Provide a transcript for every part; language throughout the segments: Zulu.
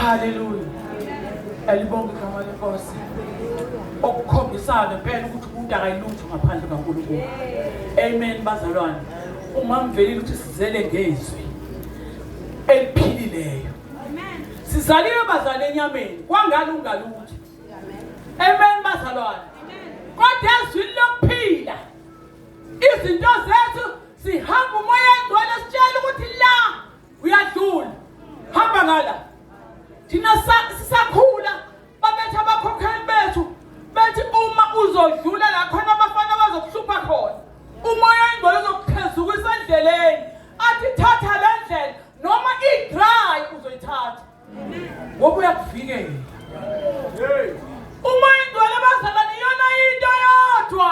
Hallelujah. Elibonga igama lenkosi. Okukhombisana ngempela ukuthi umuntu akayilutho ngaphandle kaNkulunkulu. Amen bazalwane. Ungamvelile ukuthi sizele ngezwi eliphilileyo. Amen. Sizaliwe bazalwane enyameni kwangani ungalutho. Amen bazalwane. Kodwa ezwini lokuphila izinto zethu sihamba umoya engcwele sitshela ukuthi la uyadlula hamba ngala thina sisakhula babethu abakhokheli bethu bethi uma uzodlula la khona abafana bazokuhlupha khona umoya ingcwele uzokuqhezuka isendleleni athi thatha le ndlela noma i-dry uzoyithatha ngoba uyakuvikela uma ingcwele bazalwane iyona into yodwa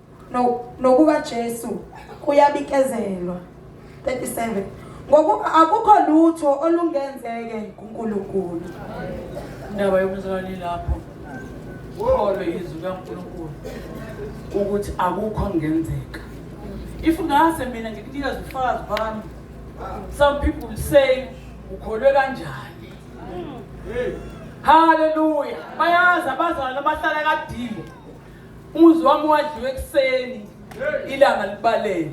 nokuba Jesu kuyabikezelwa 37 ngokuba akukho lutho olungenzeke kuNkulunkulu indaba yomzali lapho ukholo yizwi kaNkulunkulu ukuthi akukho ngenzeka if ngase mina ngikunika zifakazi bami some people say ukholwe kanjani haleluya bayazi abazali abahlala kadingo Umuzi wami wadliwa ekuseni ilanga libalele.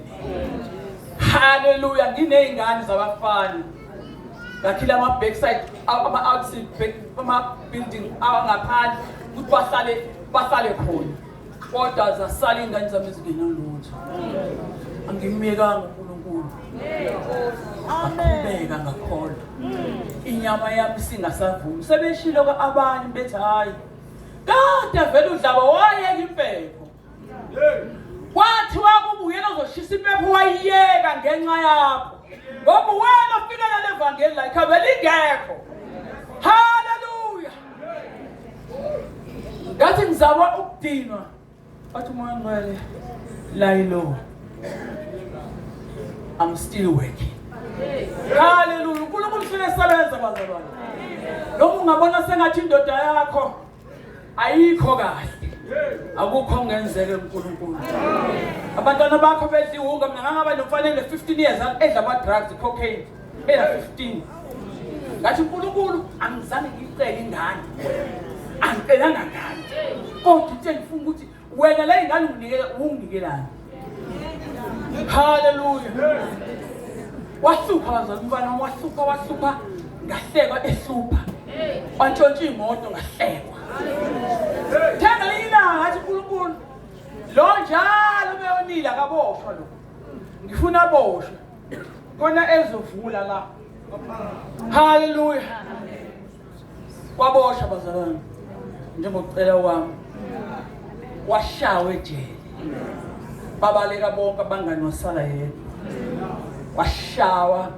Hallelujah nginezingane zabafana. Ngakhila ama backside ama outside back ama building awangaphandle ukuthi bahlale bahlale khona. Kodwa zasala ingane zami ezingena lutho. Angimyekanga uNkulunkulu. Aqhubeka ngakholwa. Inyama yami singasavumi. Sebeshilo abanye bethi hayi Kade vele udlaba wayeka impepho. Wathi wakubuyela uzoshisa impepho wayiyeka ngenxa yakho. Ngoba wena ofikela levangeli la ikhaveli ingekho. Hallelujah. Ngathi ngizama ukudinwa But my money, lie low. I'm still working. Hallelujah. uNkulunkulu ufuna esebenza bazalwane. Noma ungabona sengathi indoda yakho ayikho kahle. Akukho ongenzeke uNkulunkulu. Abantwana bakho bedliwuka mina ngangaba nomfanele 15 years edla ama drugs cocaine. Bela 15. Ngathi uNkulunkulu angizange ngicele ingane. Angicelanga ngane. Kodwa uthe ngifuna ukuthi wena la ingane unginikela unginikelani. Hallelujah. Wahlupha bazali umfana wahlupha wahlupha ngahlekwa ehlupha. Wantshontsha imoto ngahlekwa. Themba lilanga ngathi uNkulunkulu lo njalo beyonile akaboshwa lo. Ngifuna aboshwe. Kona ezovula la. Hallelujah. Kwabosha bazalwane. Njengocela wami. Washawe ejele. Babaleka bonke abangani wasala yedwa. Washawa.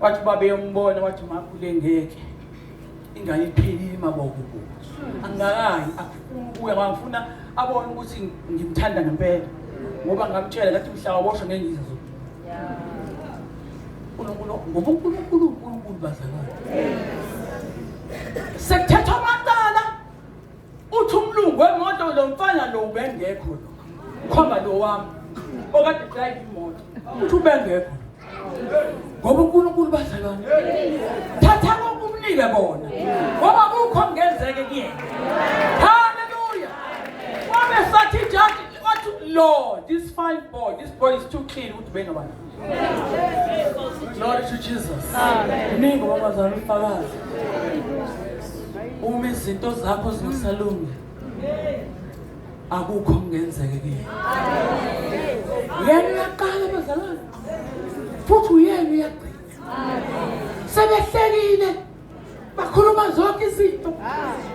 Wathi babe yombona wathi makhule ngeke. ingane iphelile imaboko kubo angikayi akufuni ukuya ngangifuna abone ukuthi ngimthanda ngempela ngoba ngamtshela ngathi mhla waboshwa ngengiza zo uNkulunkulu ngoba uNkulunkulu uNkulunkulu bazalwane sekuthethwa amacala uthi umlungu wemoto lo mfana lo ubengekho lo khomba lo wami okade drive imoto uthi ubengekho ngoba uNkulunkulu bazalwane thatha lokumnike bona ngoba kukho ngenzeke kuyena haleluya wabe sathi jaji wathi lord this fine boy this boy is too clean ukuthi benobani Glory to Jesus. Mningi wabazali umfakazi. Uma izinto zakho zingasalungi. akukho kungenzeke kini yena uyaqala bazalwane futhi uyena uyagcina sebehlekile bakhuluma zonke izinto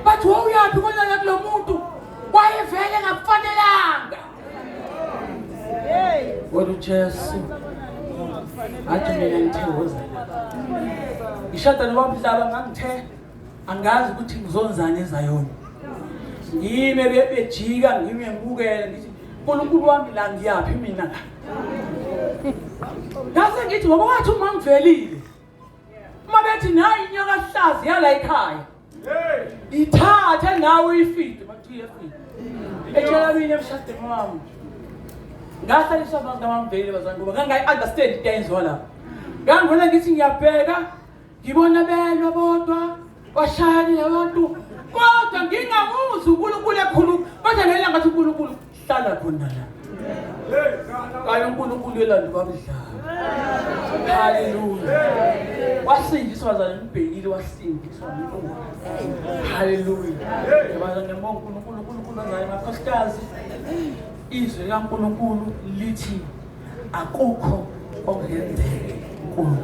bathi wawuyaphi konana kulo muntu wayevele ngakufanelanga kodwa ujesu athi mina ngithe woza ngishatha nobabudlaba ngangithe angazi ukuthi ngizonzani ezayona ngime bebejika ngime ngibukele ngithi unkulunkulu wami la ngiyaphi mina la ngase ngithi ngoba wathi uma ngivelile uma bethi nayi inyoka hlazi yala ekhaya ithathe nawe uyifide makuthiye fide etshela mina emshadweni wami ngahlaliswa abantu abamvelile bazangoba ngangayi-understand into ayenziwa lapho ngangibona ngithi ngiyabheka Ngibona belwa bodwa kwashayani labantu kodwa ngingamuzi uNkulunkulu ekhulu kodwa ngela ngathi uNkulunkulu hlala khona la. Kayo uNkulunkulu elandi kwamdlala. Hallelujah. Wasindiswa zana ngibhekile wasindiswa uNkulunkulu. Hallelujah. Yabona ngembonga uNkulunkulu uNkulunkulu ngaye makhosikazi. Izwi likaNkulunkulu lithi akukho okungenzeki kuyo